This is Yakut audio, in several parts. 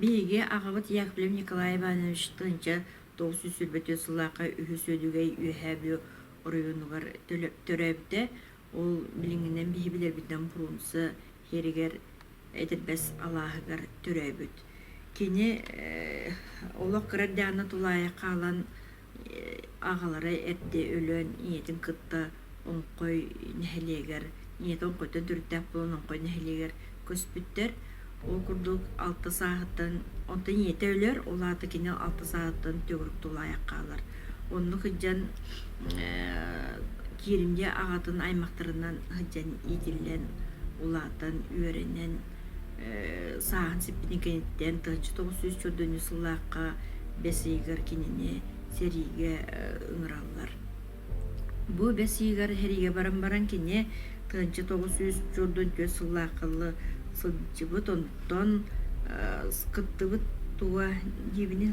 Биһиги аҕабыт Яковлев Николай Иванович Тынча тоҕус сүүс сүүрбэтиэс сыллаахха үһүс Үөдүгэй Үөһээ Бүө оройуонугар төрөөбүтэ. Ол билиҥҥинэн биһи билэрбитинэн Фрунзе сиригэр Этирбэс алааһыгар төрөөбүт. Кини олох кыра Диана тулаайах хаалан аҕалара эрдэ өлөн ийэтин кытта Оҥхой нэһилиэгэр ийэтэ Оҥхойтон төрүттээх буолан Оҥхой нэһилиэгэр көспүттэр. Ол курдук алта сааһыттан онтон ийэтэ өлөр, ол аата кини алта сааһыттан төгүрүк тулаайах хаалар. Оннук сылдьан кииримдьэ аҕатын аймахтарынан сылдьан иитиллэн, улаатан, үөрэнэн, сааһын сиппитин кэнниттэн тыһыынча тоҕус сүүс төрдүнчү сыллаахха бэс ыйыгар кинини сэриигэ ыҥыраллар. Бу бэс ыйыгар сэриигэ баран баран кини тыһыынча тоҕус сүүс төрдүнчү сыллаахха сылдьыбыт, онтон кыттыбыт туга диэбинэ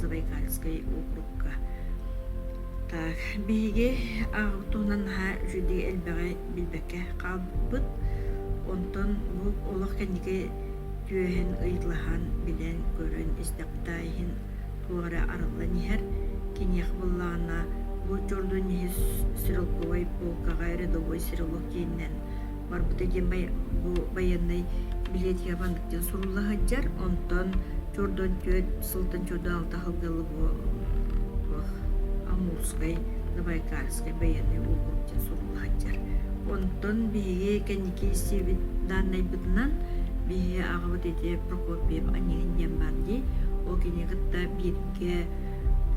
Забайкальскай округка. Так, биһиги аҕабыт туһунан наһаа үчүгэй элбэҕи билбэккэ хаалбыт. Онтон бу олох кэнники түөһүн ыйытылаһан, билэн, көрөн истэхпитэ иһин туох эрэ арыллан иһэр. Киниэхэ буллаҕына бу Джордан иһи стрелковай полкаҕа рядовой стрелок киэнинэн барбыта диэн бу байыаннай билиэтигэ маннык диэн сурулла сылдьар онтон чордон түөрт сылтан чордо алта сылдьалла бу амурскай забайкальскай байыаннай уокурук диэн сурулла сылдьар онтон биһиги кэнники истибит дааннайбытынан биһи аҕабыт ити прокопьев аньыһын диэн баар дии ол кини кытта бииргэ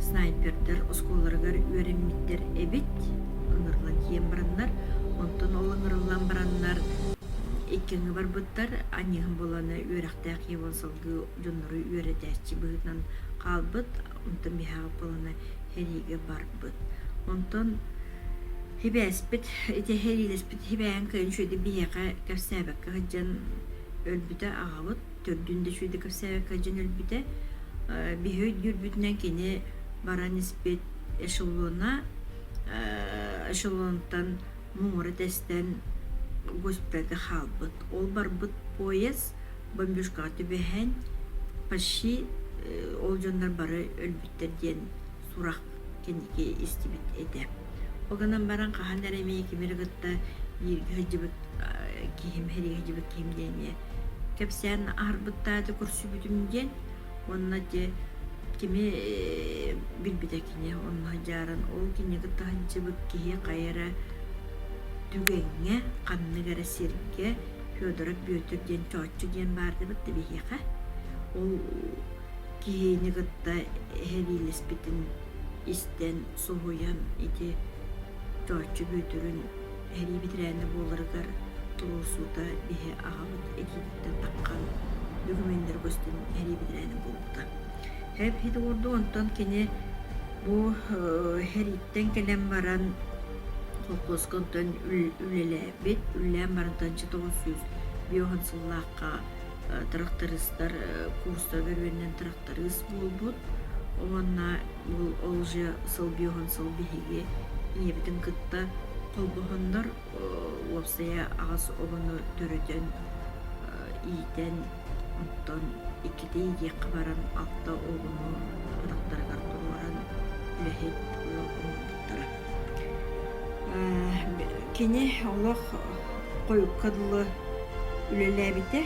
снайпердар оскуолаларыгар үөрэммиттэр эбит ыҥырылан киэн бараннар, онтон ол ыҥырыллан бараннар иккиҥҥэ барбыттар аньыыһым буолана үөрэхтээх ийэ буолан салгыы дьоннору үөрэтээччи быһыытынан хаалбыт онтон биһаҕа буолана сэриигэ барбыт онтон сибээспит ити сэриилэспит сибээһин кэлин үчүгэйдик биһиэхэ кэпсээбэккэ сылдьан өлбүтэ аҕабыт төрдүн да үчүгэйдик кэпсээбэккэ сылдьан өлбүтэ биһи өйдүүрбүтүнэн кини баран испит эшелона эшелонтан муҥура тэстэн госпитальга хаалбыт. Ол барбыт поезд бомбюшкаҕа түбэһэн почти ол дьоннор бары өлбүттэр диэн сурах кэнники истибит этэ. Ол гынан баран хаһан эрэ эмиэ кимири кытта бииргэ сылдьыбыт киһим, сэриигэ сылдьыбыт киһим диэн эмиэ кэпсээн аһарбыттаата, көрсүбүтүм диэн Онно дьэ кими билбитэ кини онно дьааран ол киниэхэ таһыччыбыт киһи хайа эрэ түгэҥҥэ ханнык эрэ сиргэ Федоров Бүөтүр диэн чооччу диэн баар дыбыт да биһиэхэ ол киһини кытта эһэлиилэспитин истэн соһуйан ити чооччу Бүөтүрүн Эһэлиибит реально буоларыгар туруорсуута иһи аҕабыт итиититтэн таххан документары көстөн эһэлиибит реально буолбута. Эп хит уурду, онтон кини бу эһэлииттэн кэлэн баран холкуоска онтон үлэлээбит, үлэлээн барантан чотоҕус сүүс биохан сыллаахха трактористар курстар бөрүөннэн таптарыыс буолбут уонна ол же сылбиоһун сыл биһиги ийэбитин кытта холбоһоннор уопсайа аҕас обону төрүтэн иитэн оттон иккитэ иитиэххэ баран алта обону атахтарыгар туруоран үлэһит оҥорбуттара кини олох хойукка дылы үлэлээбитэ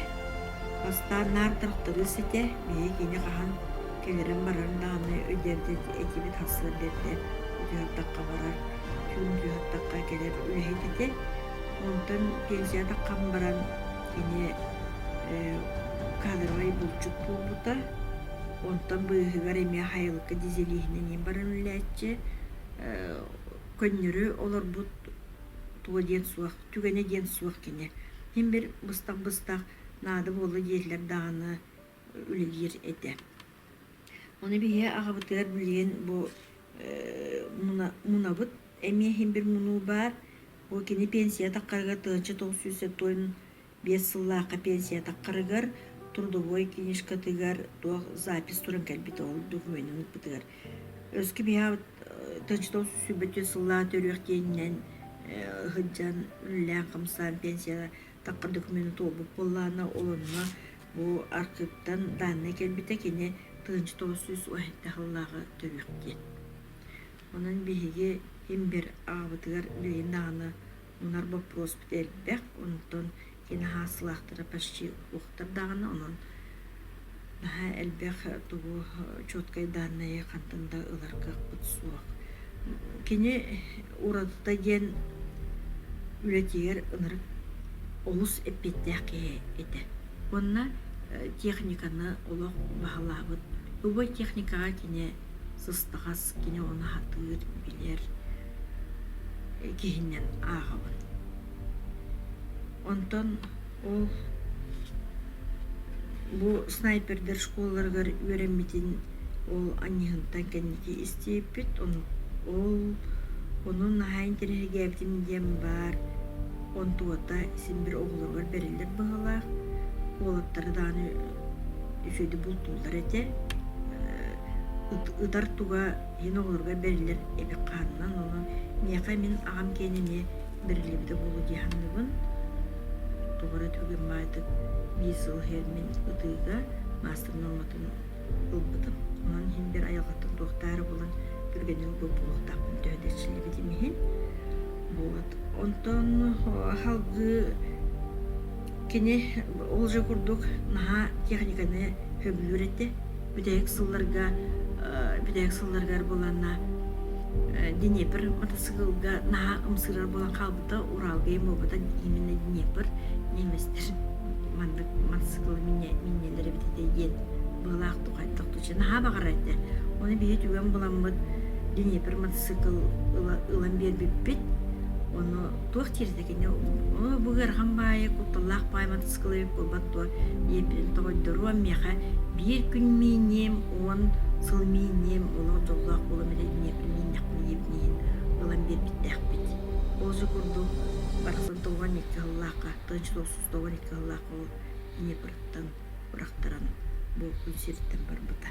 бастаан наар тырахтарыыс этэ Биһиги кини хаһан кэлэрин барарын даҕаны өйдөөбөт этибит, тахсыар диэттэ утуйуохтахха барар, түүн утуйуохтахха кэлэр үлэһит этэ. Онтон пенсия таххан баран кини кадровый булчут буолбута. Онтон быыһыгар эмиэ Хайылыкка дизелиһинэн иин баран үлэлээччи. Көннөрү олорбут туо диэн суох, түгэнэ диэн суох кини. Хин бир быстах-быстах наада буолла дииллэр даҕаны үлэлиир этэ. Ону биһиги аҕабытыгар билигин бу мунабыт эмиэ иһин бир мунуу баар. Бу кини пенсия таххарыгар тыһынча тоҕус сүүс сотуон биэс сыллаахха пенсия таххарыгар трудовой книжкатыгар туох запись туран кэлбит ол документын ыппытыгар. Өскө биһа тыһынча тоҕус сүүс сүүс сыллаах төрүөх тиэнинэн сылдьан үлэлээн хамсаан пенсия таппыт докумуону туолбут буоллаана ол онно бу архыыптан дааннай кэлбитэ кини тыһыынча тоҕус сүүс уһаайдаах ыллааҕы төрүөх диэн онон биһиги имбир аҕабытыгар үлэйин даҕаны мунар боппуруоспут элбэх онтон кини хаасылаахтара почти уохтар даҕаны онон Наһаа элбэх тугу чуоткай дааннайы хантан да ылар кыахпыт суох. Кини уратыта диэн үлэтигэр ынырык олус эппиэттээх киһи этэ. Уонна техниканы олох баһылаабыт. Любой техникаҕа кини сыстаҕас, кини ону аһатыыр, билэр киһинэн ааҕабын. Онтон Ол бу снайпердар школларыгар үөрэммитин ол анньыһынтан кэнники истиэппит. Ол онон наһаа интэриэһиргээбитим диэн баар онтуота син бир оҕолоругар бэриллэр баһылаах. Уолаттары даҕаны үчүгэйдик бултууллар этэ. Ытар туга Диин оҕолорго бэриллэр эбик хаанынан онон миэхэ мин аҕам киэн эмиэ бэриллибитэ буолуо дии саныыбын. Тугу эрэ түгэн баайтык биир сыл иһигэр мин ытыыга маастар нуорматын ылбытым. Онон иһин бэр айылҕаттан туохтаары булан түргэнник булбуохтаахпын төһө да силибитим иһин. Вот. Онтон халгыы Кини ол же курдук наһаа техниканы сөбүлүүр этэ. Бүтэһик сылларга бүтэһик сылларыгар буоланна Днепр мотоцикылга наһаа ымсыырар буолан хаалбыта, Уралга им буолбута именно Днепр немецтэр маннык мотоцикылы минньэллэр эбит этэ диэн быһалаахтык хайдах туча наһаа баҕарар этэ. Ону биһи түгэн буламмыт Днепр мотоцикл ылан биэрбиппит. Ону туох тиэрдэ Кини бу ыарахан баайы кутталлаах баайбан тыскылыйык буолбат дуо ийэтин тоҕойдоруом миэхэ биир күн мииниэм уон сыл мииниэм олох дьоллоох буолам эрэ ийэбин мииннэхпин иһин ылан биэрбиттээхпит Бозу курдук барытын тоҕуан икки хыллаахха тыч сосус тоҕуан икки хыллаах ол ийэбырыттан бырахтаран бу күн сириттэн барбыта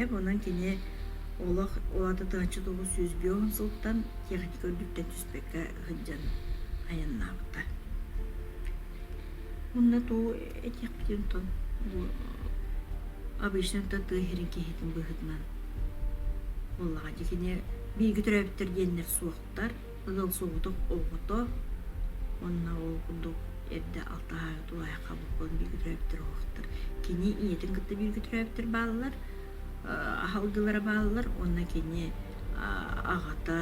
Эп онон кини олох улата тыһаччы тоҕус сүүс биоһун сылтан техника үрдүктэн түс бүккэ сылдьан айаннаабыта. Онно туу этиэхтиинтон бу обычно тыы сирин киһитин быһыытынан буоллаҕа дии кини биирги төрөөбүттэр диэннэр суохтар ыал суоҕутук оҕото онно ол курдук эрдэ алтаһаары тулаайахха буккун биирги төрөөбүттэр оһохтор кини ийэтин кытта биирги төрөөбүттэр бааллар аһалгылара бааллар уонна кини аҕата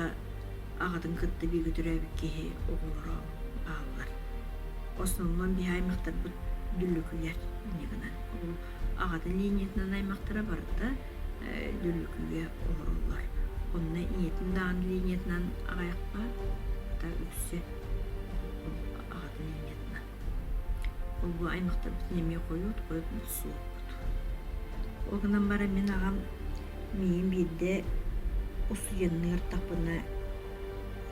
аҕатын кытта бүгүтүрээбит киһи оҕолоро ааллар основном биһи аймактарбыт дүллүкүгэр гынан ол аҕатын линиятынан аймактара барыта дүллүкүгэ олороллор онно ийэтин даҕаны линиятынан аҕайахпа ата үксэ аҕатын линиятынан Ойгу аймахтарбытын эмиэ хойут, хойут мохсуоппут. Ол гынан баран мин аҕам миигин биирдэ усуйанныы ыртахпына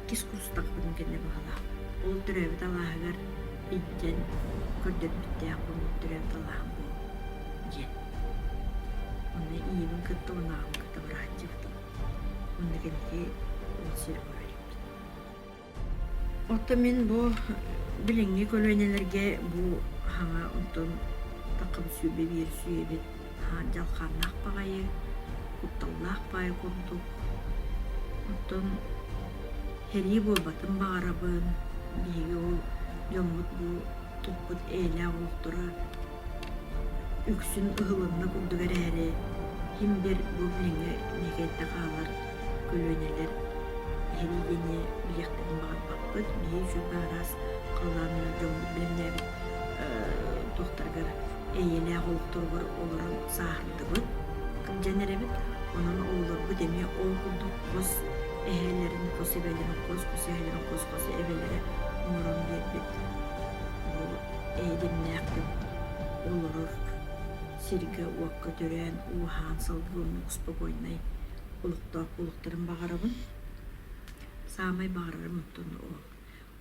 иккис курстахпына кэннэ баҕалаах. Ол төрөөбүт алааһыгар илдьэн көрдөрбүттээх боммут төрөөбүт алааһым буол диэн. Онно ийэбин кытта уонна аҕабын кытта бырааччыбытым. Уонна кэнники ол сир барар эбит Оттон мин бу билиҥҥи көлүөнэлэргэ бу саҥа онтон таххам сүбэ биэрсүйэбит дьалхааннаах баҕайы, кутталлаах баҕайы курдук. Оттон сэрии буолбатын баҕарабын. Биһиги ол дьоммут бу туппут эйэлээх олохторо Үксүн ыһылынна курдук эрээри, кимдэр бу билиҥҥи ньиэкэйдэ хаалар көлүөнэлэр иһин диэни билиэхтэрин баҕарбаппыт. Биһиги сөпкө араас халлаанынан дьоҥҥут билимнээбит туохтарыгар эйэлээх олохторугар олорон сааһырдыбыт, кырдьан эрэбит. Онон оҕолорбут эмиэ ол курдук хос эһэлэрин, хос эбэлэрин, хос хос эһэлэрин, хос хос эбэлэрэ оҥорон биэрбит Бу эйигиннээх күн олорор сиргэ-уокка төрөөн ууһаан салгылыннык успокойнай олохтоох буолуохтарын баҕарабын. Саамай баҕарарым оттон о.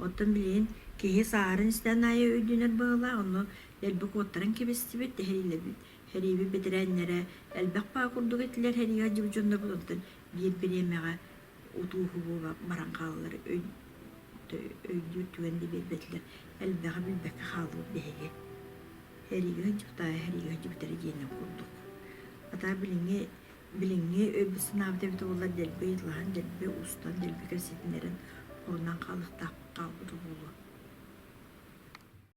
Оттон билигин киһи сааһыран истэн аайы өйдөнөр быһыылаах, онно дэлби куоттаран кэбистибит, тэһэрилэбит. Хэрииби бэтэрээннэрэ элбэх баа курдук этилэр, хэрийэ дьулдьуннарбыт, онтон биир бириэмэҕэ утууһу буола баран хааллар өйдүүр түгэн да биэрбэтилэр элбэҕи билбэккэ хаалбыт биһиги эрииги сынчыктаайа эрииги сынчыктаары диэни курдук хата билиҥҥи билиҥҥи өйбүт санаабыт эбитэ буоллар дэлби ыйыталаһан дэлби устан дэлби кэпсэтинэрин хонон хаалыахтаахпыт хаалбыта буолуо